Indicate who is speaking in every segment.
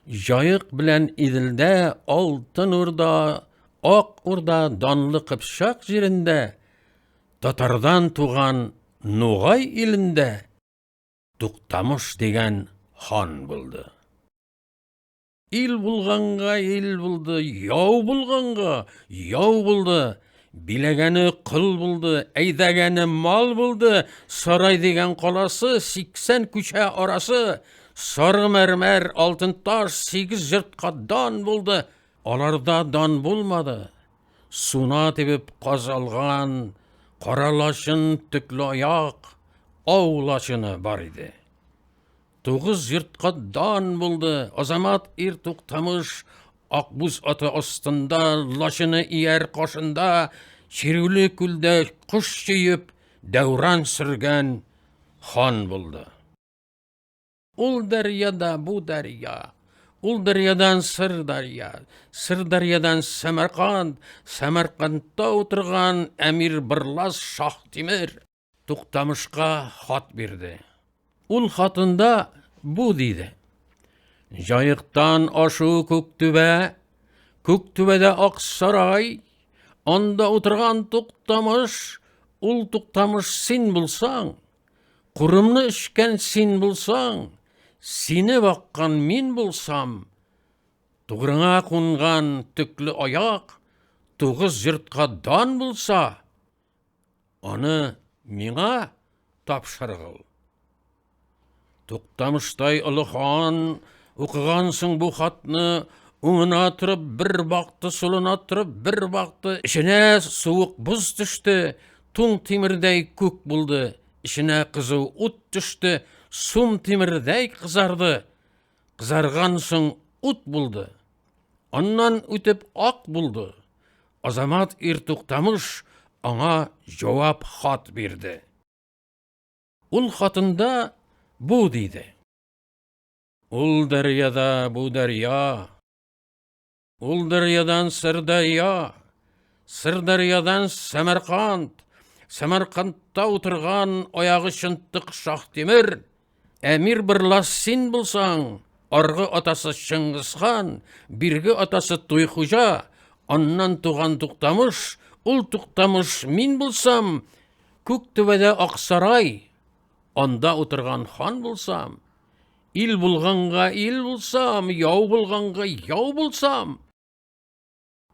Speaker 1: Җаек белән Иделдә, Алтын Урда, Ак Урда, Данлы Кыпчак җирендә, татардан туган Нугай илендә Туктамыш дигән хан булды. Ил булганга ил булды, яу булганга яу булды. Биләгәне кыл булды, әйдәгәне мал булды, сарай дигән каласы, 80 күчә арасы, сары мәрмәр, алтын таш, 8 җыртка дан булды. Аларда дан булмады. Суна тибеп казалган, кара лачын, төкле аяк, ау лачыны бар иде. Тугыз җыртка дан булды. Азамат ир туктамыш Акбүз аты астында, лачыны ияр кашында, чирүле күлдә кош җыеп, дәүран сөргән хан булды. Ул дәрьяда бу дәрья, ул дәрьядан Сырдарья, Сырдарьядан Сәмәрканд, Сәмәркандта утырган әмир Бырлас Шаһтимер. Туктамышка хат бирде. Ул хатында бу диде. Җаектан ашу Күктүбә, Күктүбәдә Аксарай, анда утырган Туктамыш, ул Туктамыш син булсаң, курымны эчкән син булсаң, сине баккан мин булсам, тугрыңа кунган төкле аяк, тугыз йортка дан булса, Аны миңа тапшыргыл. Туктамыштай олы хан, укыгансың бу хатны, уңына торып, бер бакты сулына торып, бер бакты эченә суык буз төште, туң тимердәй күк булды, эченә кызу ут төште, сум тимердәй кызарды. Кызарган соң ут булды. Аннан үтеп ак булды. Азамат ир Туктамыш аңа җавап хат бирде. Ул хатында бу диде. Ул дәрьяда бу дәрья. Ул дәрьядан Сырдарья, Сырдарьядан Сәмәрканд, Сәмәркандта утырган аягы чынтык Шаһтимер, Әмир Бырлас син булсаң, аргы атасы Чыңгызхан, бирге атасы Туйхуҗа, аннан туган Туктамыш, ул Туктамыш мин булсам, Күктүбәдә Аксарай, анда утырган хан булсам, Ил булганга ил булсам, яу булганга яу булсам.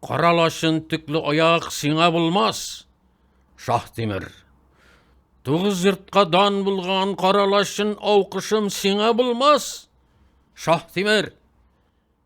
Speaker 1: Кара лачын төкле аяк сиңа булмас, Шаһтимер. Тугыз йортка дан булган кара лачын аукышым сиңа булмас, Шаһтимер.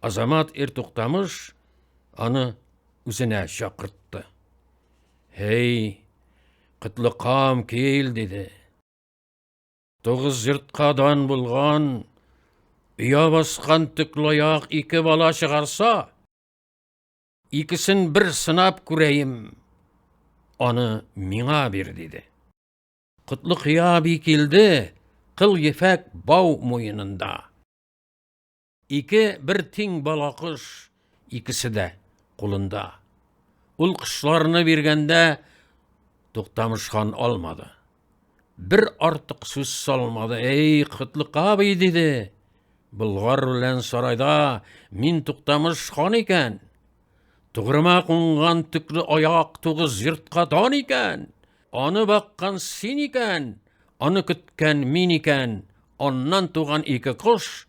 Speaker 1: Азамат ир туктамыш аны үзенә чакыртты. Һей, кытлыкам кил, диде. Тугыз йортка дан булган, өя баскан төклаяк ике бала чыгарса, икесен бер сынап күрәем, аны миңа бир, диде. Котлыкия би килде, кыл ефәк бау муенында. Ике бер тиң бала кош, икесе дә кулында. Ул кошларны биргәндә Туктамыш хан алмады. Бер артык сүз салмады. Эй, Котлык абый, диде. Болгар белән сарайда мин Туктамыш хан икән. Тугрыма кунган төкле аяк тугыз йортка дан икән. Аны баккан син икән, аны көткән мин икән. Аннан туган ике кош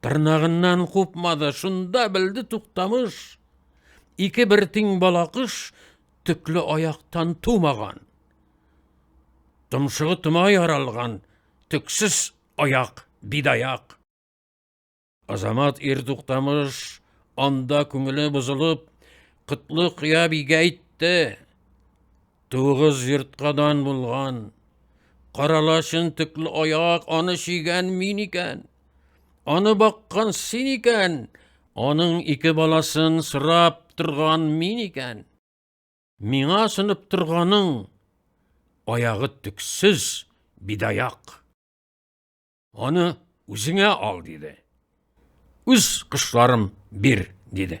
Speaker 1: Тырнагыннан купмады, шунда белде туктамыш. Ике бер тиң балакыш төкле аяктан тумаган. Томшыгы тома яралган, төксез аяк, бидаяк. Азамат ир туктамыш анда күңеле бозылып, кытлы кыя бигә әйтте. Тугыз йорткадан булган, каралашын төкле аяк аны чигән мин икән. Аны баккан син икән, аның ике баласын сорап торган мин икән. Миңа сынып торганың аягы төксез бидаяк. Аны үзеңә ал, диде. Үз кышларым бир, диде.